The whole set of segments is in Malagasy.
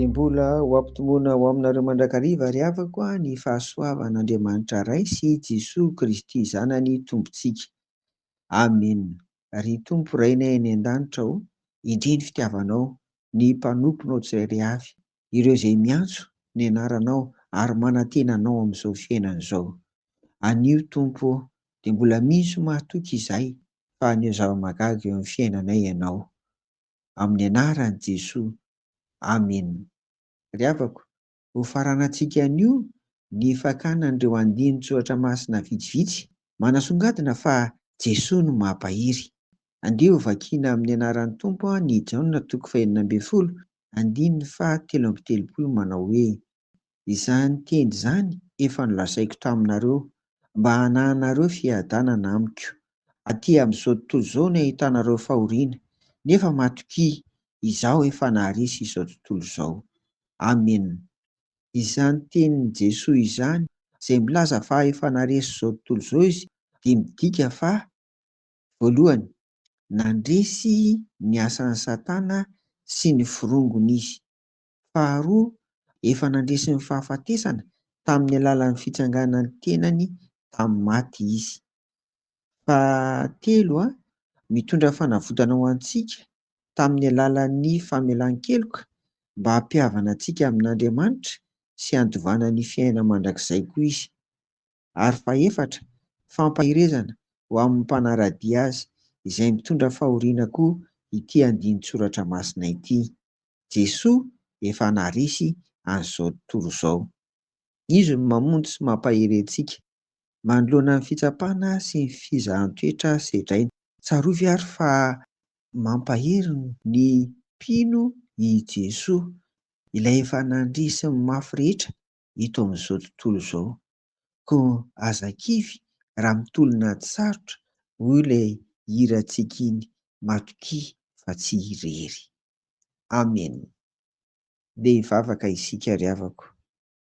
Dia mbola ho ampitomboina ho aminareo mandrakariva ry havako a, ny fahasoavan'Andriamanitra Ray sy i Jesoa Kristy Zanany Tompontsika. Amena. Ry Tompo Rainay any an-danitra ô, indrindra fitiavanao ny mpanomponao tsirairay avy, ireo izay miantso ny anaranao ary manantena anao amin'izao fiainana izao. Anio Tompo ô, dia mbola misy mahatoky izahay fa haneho zava-mahagaga eo amin'ny fiainanay Ianao. Amin'ny anaran'i Jesoa. Amena. Ry havako, hofaranantsika anio ny fakana an'ireo andinin-tsoratra masina vitsivitsy, manasongadina fa Jesoa no mampahery. Andeha hovakiana amin'ny anaran'ny Tompo an i Jaona toko fahenina ambin'ny folo Andininy faha telo amby telopolo manao hoe, Izany teny izany efa nolazaiko taminareo, mba hanahanareo fiadanana amiko, aty amin'izao tontolo izao ny ahitanareo fahoriana, nefa matokia, Izaho efa naharesy izao tontolo izao. Amena. Izany tenin'i Jesoa izany, izay milaza fa efa naharesy izao tontolo izao Izy, dia midika fa, voalohany, nandresy ny asan'i Satana sy ny forongony izy. Faharoa, efa nandresy ny fahafatesana tamin'ny alalan'ny fitsanganan'ny tenany tamin'ny maty izy. Fahatelo, mitondra fanavotana ho antsika tamin'ny alalan'ny famelan-keloka mba hampihavana antsika amin'Andriamanitra sy handovana ny fiainana mandrakizay koa izy. ary fahefatra, fampaherezana ho amin'ny mpanara-dia azy, izay mitondra fahoriana koa ity andinin-tsoratra masina ity. Jesoa efa naharesy an'izao tontolo izao. Izy no mamonjy sy mampahery antsika, manoloana ny fitsapana sy ny fizahan-toetra sedraina. Tsarovy àry fa mampahery ny mpino i Jesoa, ilay efa nandria sy ny mafy rehetra ito amin'izao tontolo izao. Koa aza kivy raha mitolona ady sarotra hoy ilay hirantsika iny matokia fa tsy irery. Amen. Ndeha hivavaka isika ry havako.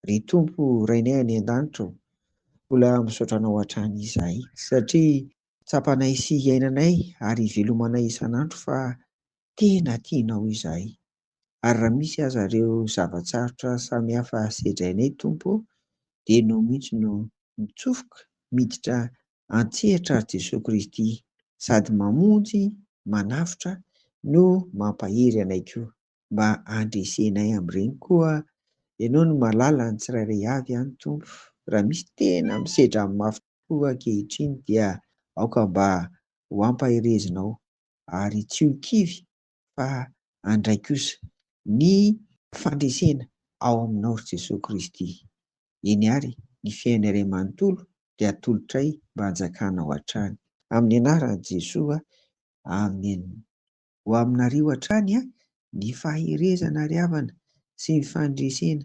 Ry Tompo Rainay any an-danitra ô, mbola misaotra Anao hatrany izahay. Satria tsapanay sy iainanay ary ivelomanay isan'andro fa tena tianao izahay. ary raha misy aza ireo zava-tsarotra samihafa sedrainay Tompo ô, dia Ianao mihitsy no mitsofoka miditra an-tsehatra ry Jesoa Kristy sady mamonjy, manavotra no mampahery anay koa, mba handresenay amin'ireny koa Ianao no mahalala ny tsirairay avy an Tompo, raha misy tena misedra amin'ny mafy tokoa ankehitriny dia aoka mba ho ampaherezinao ary tsy ho kivy fa handray kosa ny fandresena ao Aminao ry Jesoa Kristy. Eny ary, ny fiainana iray manontolo dia atolotray mba hanjakanao hatrany. Amin'ny anaran'i Jesoa, Amen. Ho aminareo hatrany ny faherezana ry havana sy ny fandresena